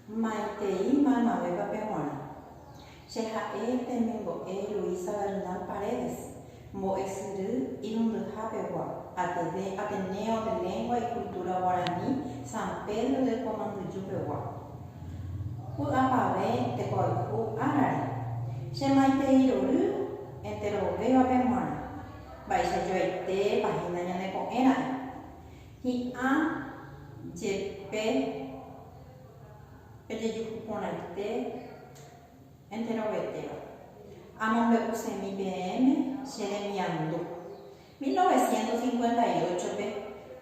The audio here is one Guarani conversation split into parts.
Maitei maymavéva pe g̃uarã. Che ha'e temimbo'e Luisa Bernal Paredes, mbo'esyry irundyha pegua, Ateneo de Lengua y Cultura Guarani San Pedro de Kuamanduju pegua, Py'apavẽ tekoayhu árare. Che maitei rory enterovéva pe g̃uarã. Mba'eichajoaite pahína ñane ko'ẽra'e. Hi'ã jepe pejejuhu porãite enterovetéva, amombe'usemi peẽme che remiandu. Mil novecientos cincuenta y ocho-pe,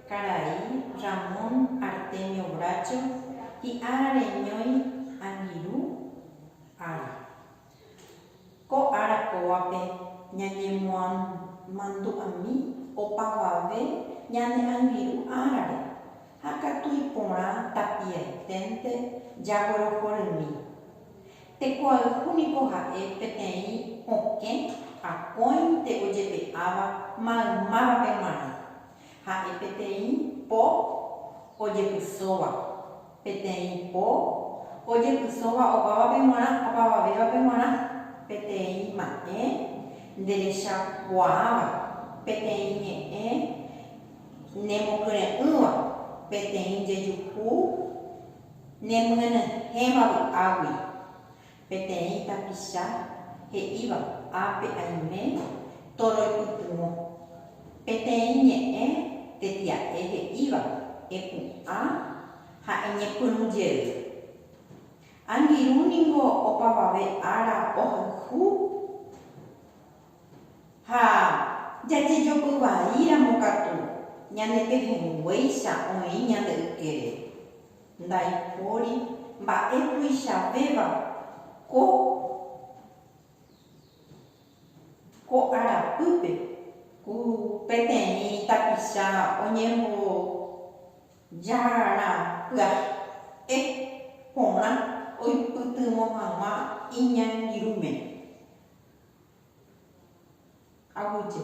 karai Ramón Artemio Bracho hi'ára reñói angirũ ára. Ko ára kóvape ñañemomandu'ami opavave ñane angirũ árare, ha katu iporã tapiaiténte jaguerohorymi. Tekoayhu niko ha'e peteĩ okẽ akóinte ojepe'áva maymávape g̃uarã, ha'e peteĩ po ojepysóva. Peteĩ po ojepysóva opávape g̃uarã opavavévape g̃uarã, peteĩ ma'ẽ nderechakuaáva, peteĩ ñe'ẽ nemokyre'ỹva, peteĩ jejuhu nemyenyhẽva vy'águi. Peteĩ tapicha he'íva ápe aime tóro ipytyvõ. Peteĩ ñe'ẽ tetia'e he'íva epu'ã ha eñepyrũ jey. Angirũ ningo opavave ára ohayhu ha jajejopy vai ramo katu ñane pehẽnguéicha oĩ ñande ykére. Ndaipóri mba'e tuichavéva ko ko arapýpe ku peteĩ tapicha oñembojára pya'e porã oipytyvõ hag̃ua iñangirũme. Aguyje.